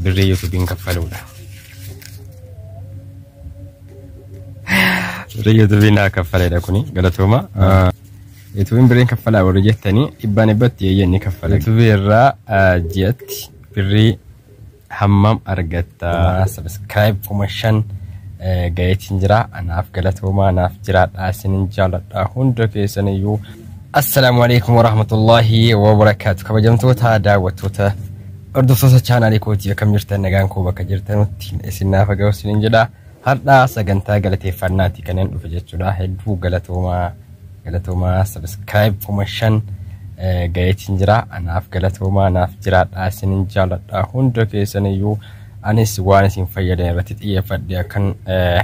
Birrii yuutuubiin kaffaluudha. Birrii yuutuubiin naa kaffaleedha kuni galatooma. Yuutuubiin birriin kaffalaa warri jettanii dhibbaan dhibbatti eeyyee ni kaffala. Yuutuubii irraa ah, ji'atti birrii hammam argatta? Sabiskiraayib kuma shan eh, gaheetiin jira. Anaaf galatoomaa naaf jiraadhaa isinin jaaladha hunda keessaniyyuu. Assalaamu alaikum warahmatullahi wabarakaatu kabajamtoota daawwattoota hordoftoota chaanaalii kootii akkam jirtan nagaan koo bakka jirtanutti isin naaf haa ga'u isiniin jedha har'a sagantaa galateeffannaati kanneen dhufe jechuudha hedduu galatoomaa galatoomaa sabiskiraayib kuma shan eh, ga'eetiin jira anaaf galatoomaa naaf jiraadha isinin jaaladha hunda keessaniyyuu anis waan isin fayyadan irratti xiyyeeffadhe akkan eh,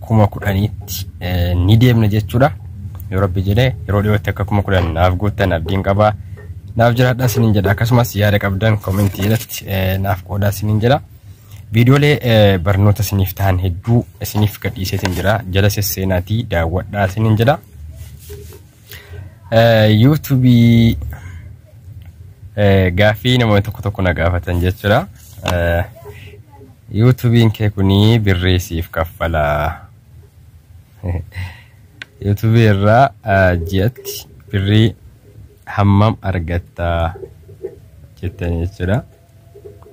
kuma kudhaniitti ni deemna jechuudha. Yoo rabbi jedhe yeroo dhiyootti akka kuma kudhan naaf guuttan abdiin qaba. Naaf jiraadhaa isiniin jedha akkasumas yaada qabdan koomentii irratti naaf qoodaa isiniin jedha. Viidiyoolee barnoota isiniif ta'an hedduu isiniif gadhiiseetiin jira. Jala sesseenaatii daawwadhaa isiniin jedha. Yuutuubii gaaffii namoonni tokko tokko na gaafatan jechuudha. Yuutuubiin kee kunii birrii siif kaffalaa? Yuutuubii irraa ji'atti birrii hammam argattaa jettan jechuudha.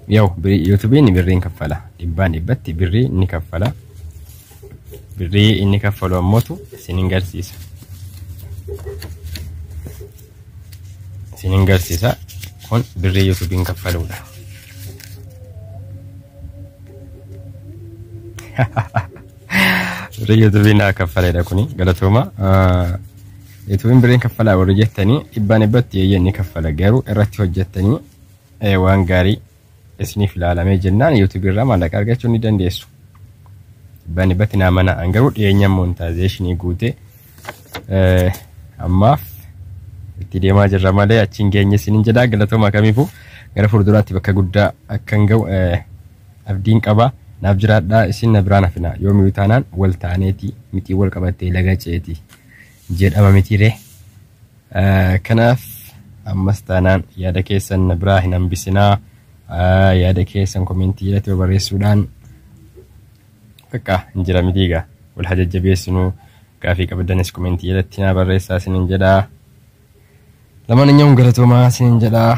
Yaw yuutubiin birriin kaffala. Dhibbaan dhibbatti birrii ni kaffala. Birrii inni kaffalu ammootu isin hin garsiisa. Isin hin garsiisa. Kun birrii yuutubiin kaffaluudha. Birrii yuutubiin naa kaffaledha kuni galatooma. Yuutubiin birriin kaffalaa warri jettanii dhibbaan dhibbatti eeyyee ni kaffala garuu irratti hojjettanii waan gaarii isiniif ilaalamee jennaan yuutuubii irraa maallaqa argachuu ni dandeessu. Bani bati naa mana an garuu dhiyeenya montaayizeeshinii guute ammaaf itti deemaa jirra malee achiin geenye isiniin jedhaa galatooma kamiifuu gara fuulduraatti bakka guddaa akkan ga'u abdiin qaba. Naaf jiraadhaa isin na biraan hafina yoomiyuu taanaan wal taaneeti mitii wal qabattee laga ceeti jedhama mitiiree. Kanaaf ammas taanaan yaada keessan na biraa hin hambisinaa. Yaada keessan komentii jalatti yoo barreessuudhaan bakka hin jira mitii egaa wal haa jajjabeessinu gaafii qabdanis komentii jalatti naa barreessaa isinin jedhaa. Lamaan inyuu galatoomaa isinin jedhaa.